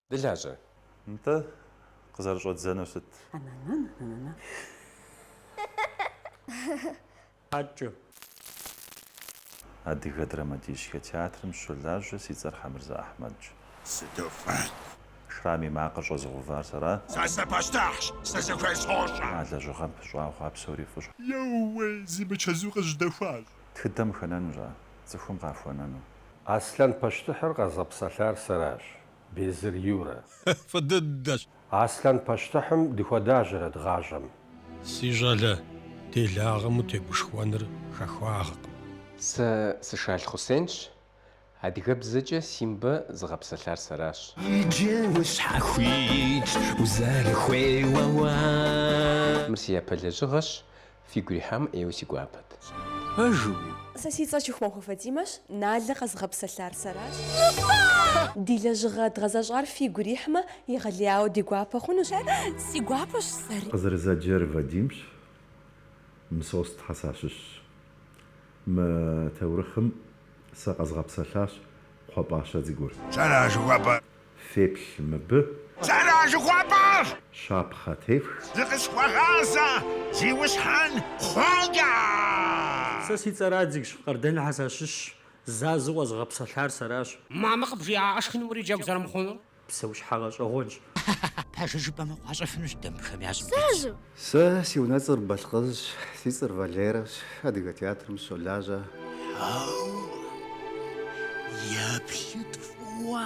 Дылажьэ. Нтӏэ, къызэрыщӏэддзэнур сыт? Хьэкӏэ. Адыгэ драматическэ театрым сыщолажьэ, си цӏэр Хьэмырзэ Ахьмэдщ. Сыту фӏыт! Шрам и макъыр щӏэзыгъэувар сэращ. Сэ сыпащтыхьщ, сызыхуейр сощӏэ! А лэжьыгъэм пыщӏауэ хъуа псори фӏыщ. Еууей, зи мычэзу къызжьэдэхуащ. тхыдэм хэнэнущ ар, цӏыхум къахуэнэну. Аслъэн пащтыхьыр къэзгъэпсэлъар сэращ, Безыр Юрэ. Фӏы дыдэщ. Аслъэн пащтыхьым дыхуэдащэрэт гъащӏэм. Си щӏалэ, делагъэм утегушхуэныр хахуагъэкъым. Сэ сы-Шал Хъусенщ, Адыгэбзэкӏэ Симбэ зыгъэпсэлъар сэращ. Иджы ущхьэхуитщ узэрыхуейуэ уэ. Мыр си япэ лэжьыгъэщ. Фигу ирихьамэ ӏейуэ си гуапэт. Пэжу. Сэ си цӏэр Чухмахуэ Фатимэщ, Налэ къэзыгъэпсэлъар сэращ. Ди лэжьыгъэ дгъэзэщӏар фигу ирихьмэ, егъэлеяуэ ди гуапэ хъунущ. Си гуапэщ сэри. Къызэрызэджэр Вадимщ, Мысостхьэ сащыщщ. Мы таурыхъым сэ къэзгъэпсэлъащ кхъуэпӏащэ дзыгур. Сэращ жыхуэпӏэр. Феплъ мыбы. Сэращ жыхуэпӏэр. Щапхъэ тефх. Зыкъысхуэгъазэ, зиусхьэн кхъуэкӏэ. Сэ си цӏэр Адзигщ, Къардэнхьэ сащыщщ, Зазу къэзгъэпсэлъар сэращ. Мамэ къыбжиӏа шхыным уриджэгу зэрымыхъунур? псэущхьэ гъэщӏэгъуэнщ. Пэжыр жыпӏэмэ, къуащӏэфынущ дэ абыхэм я щӏым дытетщ. Сэ си унэцӏэр Балъкъызщ, си цӏэр Валерэщ, Адыгэ театрым сыщолажьэ. Хьэуэ, еплъыт фӏыуэ!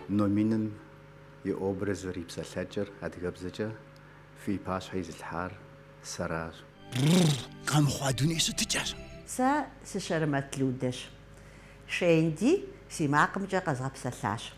Номиным и образыр, и псалъэкӏэр адыгэбзэкӏэ фи пащхьэ изылъхьар сэращ. Бррр, къэмыхъуа дуней щытыкӏэщ! Сэ сы-Шэрэмэт Людэщ. Шенди си макъымкӏэ къэзгъэпсэлъащ.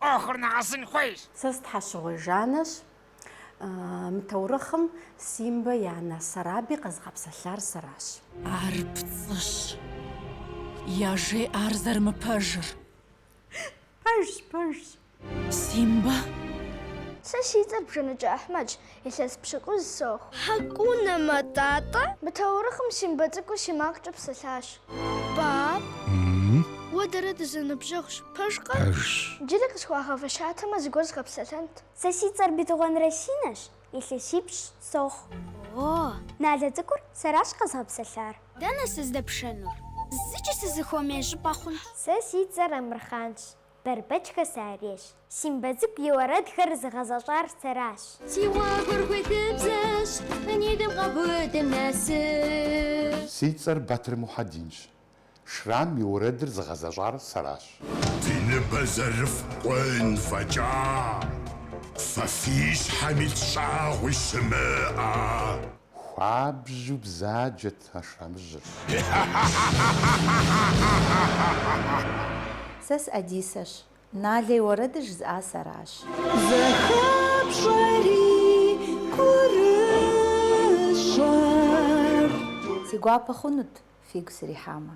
ӏуэхур нэгъэсын хуейщ. Сэ сы-Тхьэщыгъуей Жаннэщ. Мы таурыхъым Симбэ и анэ Сараби къэзыгъэпсэлъар сэращ. Ар пцӏыщ. Яжеӏэ ар зэрымыпэжыр. Пэжщ, пэжщ. Симбэ? Сэ си цӏэр Бжэныкӏэ Ахьмэдщ. Илъэс пщыкӏуз сохъу. Хьэкӏунэ мэтӏатӏэ. Мы таурыхъым Симбэ цӏыкӏур си макъкӏэ псэлъащ. Пап. Уэ дэрэ дызэныбжьэгъущ. Пэжкъэ? Пэжщ. Джыри къысхуагъэфэщатэмэ, зыгуэр згъэпсэлъэнт. Сэ си цӏэр Бетыгъуэн Расинэщ, илъэсипщӏ сохъу. О. Налэ цӏыкӏур сэращ къэзгъэпсэлъар. Дэнэ сыздэпшэнур? Зыкӏи сызыхуэмей щӏыпӏэ хъунщ. Сэ си цӏэр Амырхъанщ. Бэрбэчхэ сарейщ. Симбэ цӏыкӏу и уэрэдхэр зыгъэзэщӏар сэращ. Си гъуэгур хуитыбзэщ, нитӏым къаубыдым нэс. Си цӏэр Батыр Мухьэдинщ. Шрам и уэрэдыр зыгъэзэщӏар сэращ. Ди ныбэ зэрыфкъун фӏэкӏа. Фэ фи щхьэм ит щӏагъуи щымыӏэ. Хуабжьу бзаджэт Сэ сы-Ӏэдисэщ. Налэ и уэрэдыр жызыӏа сэращ. Зэхэпщӏэрэ гурыщӏэр. Си гуапэ хъунут фигу срихьамэ.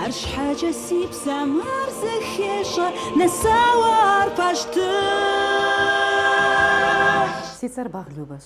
Арщхьэкӏэ си псэм ар зэхещӏэ. Нэсауэ ар пащтыхь. Си цӏэр Багъ Любэщ.